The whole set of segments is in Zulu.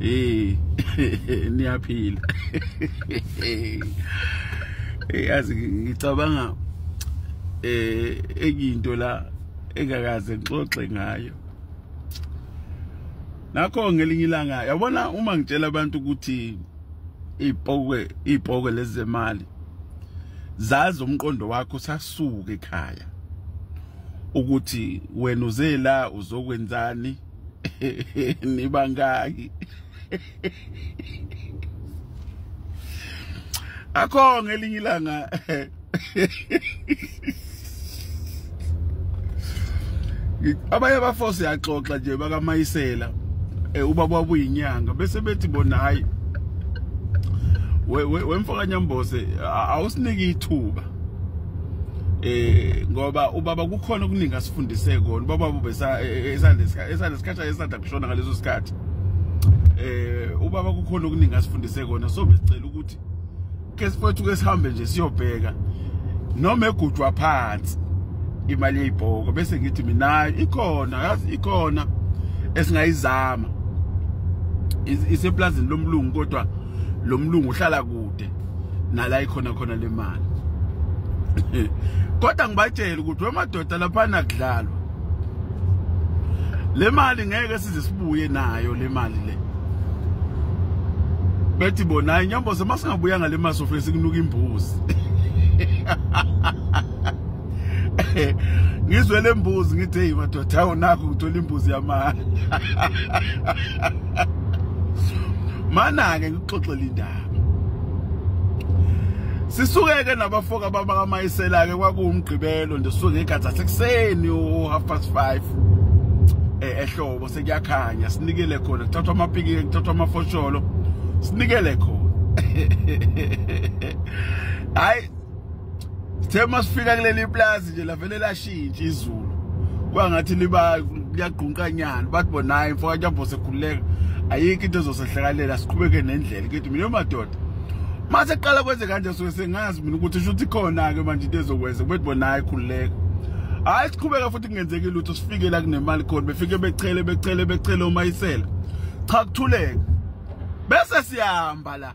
Eh niyaphila. Eyazi eh, ngicabanga eh ekinto la engakaze ngixoxe ngayo. Nakho ngelinye ilanga yabona uma ngitshela abantu ukuthi ipokwe ipokwe lezemali zazi umqondo wakho sasuke ekhaya ukuthi wena uzela uzokwenzani nibangaki akho ngelinye ilanga abanye abafo siyaxoxa nje bakamayisela eh, ubaba wabuyinyanga bese bethi bona hayi wemfokanyambose awusinike ithuba eh ngoba ubaba kukhona okuningi asifundise kona ubaba besa esandesikhathi esandesikhathi esanda kushona ngaleso sikhathi eh ubaba kukhona okuningi asifundise kona so besicela ukuthi ke sifowethu ke sihambe nje siyobheka noma egujwa phansi imali yeyibhoko bese ngithi mina ikhona yazi ikhona esingayizama iseplazini lomlungu kodwa lomlungu uhlala kude nala ikhona khona lemali kodwa ngibatshela ukuthi wemadoda lapha nakudlalwa le mali ngeke size sibuye nayo le mali le bethi bona inyambo semasingabuya ngale mali sofike sikunuka imbuzi ngizwe lembuzi ngithe hey madoda awu nakho ngithola imbuzi yamanga mana ke ngixoxela indaba sisukeke nabafoka baba kamayisela-ke kwakuwumgqibelo nje sisuke ngegathi asekuseni u-half past five eh, ehlobo sekuyakhanya sinikele khona kuthathwa amapiki kuthathwa amafosholo sinikele khona hayi Sithe masifika kuleli plaza nje lavele lashintsha izulu. Kwangathi liba liyagqunqa nyana bathi bona imfoka njambo sekhululeka ayikho into ezosehlakalela siqhubeke nendlela kithi mina madoda mase qala kwenze kanje so sengazi mina ukuthi shuthi khona ke manje into ezokwenza kubethi bona hayi khululeka hayi siqhubeka futhi kungenzeki lutho sifike la kunemali khona befike bechele bechele bechele uma isela cha kuthuleka bese siyahamba la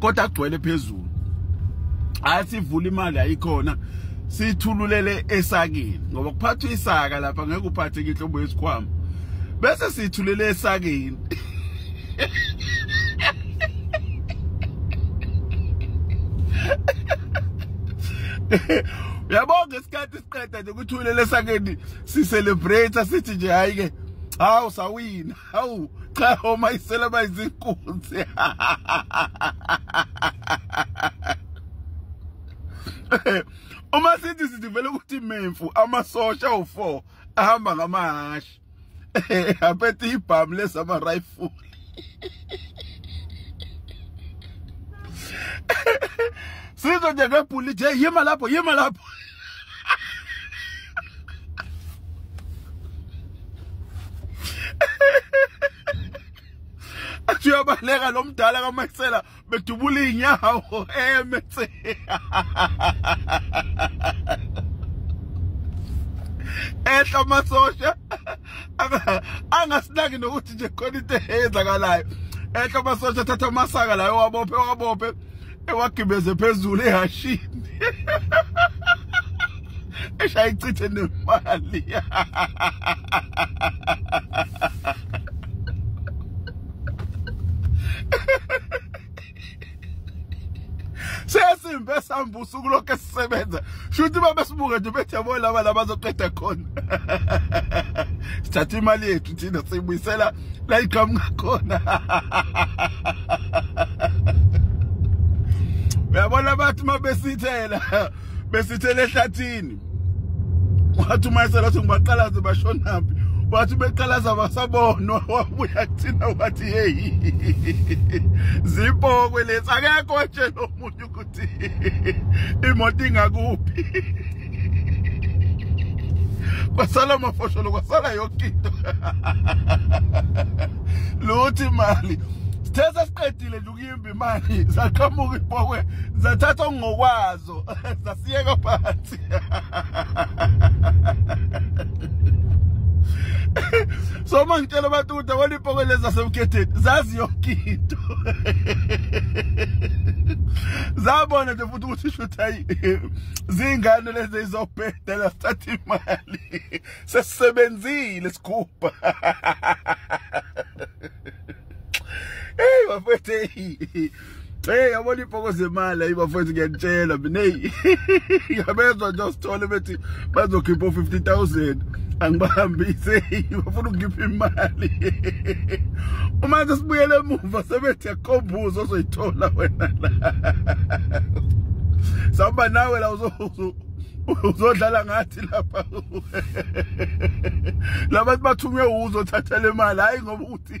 kodwa agcwele phezulu hayi sivula imali ayikhona sithululele esakini ngoba kuphathwa isaka lapha ngeke uphathe inhlobo yesikhwama bese sithulele esakini uyabona ngesikhathi siqeda nje kuthulele esakeni sicelebrate sithi nje hayi ke hawu sawina hawu cha omayisela bayizinkunzi uma sithi sithi vele ukuthi memfu amasosha u4 ahamba ngamahashi aphethe ibhamu lesama rifle sizo nje ngebhulithe yima lapho yima lapho athi uyabaleka lo mdala kamaxela bedubula iy'nyawo emetse ehla amasosha angasinaki nokuthi nje khona into eyenzakalayo ehla amasosha athatha amasaka layo wabophe wabophe ewagibeze phezulu ehashini eshaya ichithe nemali sesimbe sihamba usuku lokho esisebenza shuthi uma besibuke nje bethi yabo laba labazoqeda khona sithatha imali yethu thina siyibuyisela la iqhamuka khona uyabona bathi uma besithela besithela ehlathini wathi uma esela ukuthi ngibaqalaze bashonaphi wathi beqalaza basabonwa wabuya kuthina wathi yeyi zipokwe lesi akekho nje lo muntu ukuthi imoto ingakuphi kwasala amafosholo kwasala yonke into luthi imali sithe sesiqedile nje ukuyimba imali zaqhamuka ibhokwe zathatha okungokwazo zasiyeka phansi so uma ngitshela abantu ukuthi awona ipoko lezi zasemkhetheni zazi yonke into zabona nje futhi ukuthi shuthi hayi zingane lezi izobhedela sithatha imali sesisebenzile sikhupha Hey bafethu Hey yabona ibhoko zemali ayi bafethu ngiyanitshela mina hey yabezwa nje usithole bethi bazokhipha 50000 angibahambise bafuna ukukhipha imali uma nje sibuyele emuva sebethi yakhombuza ozoyithola wena la samba nawe la uzozu uzodlala ngathi lapha labantu bathunywe uzothatha le mali hayi ngoba ukuthi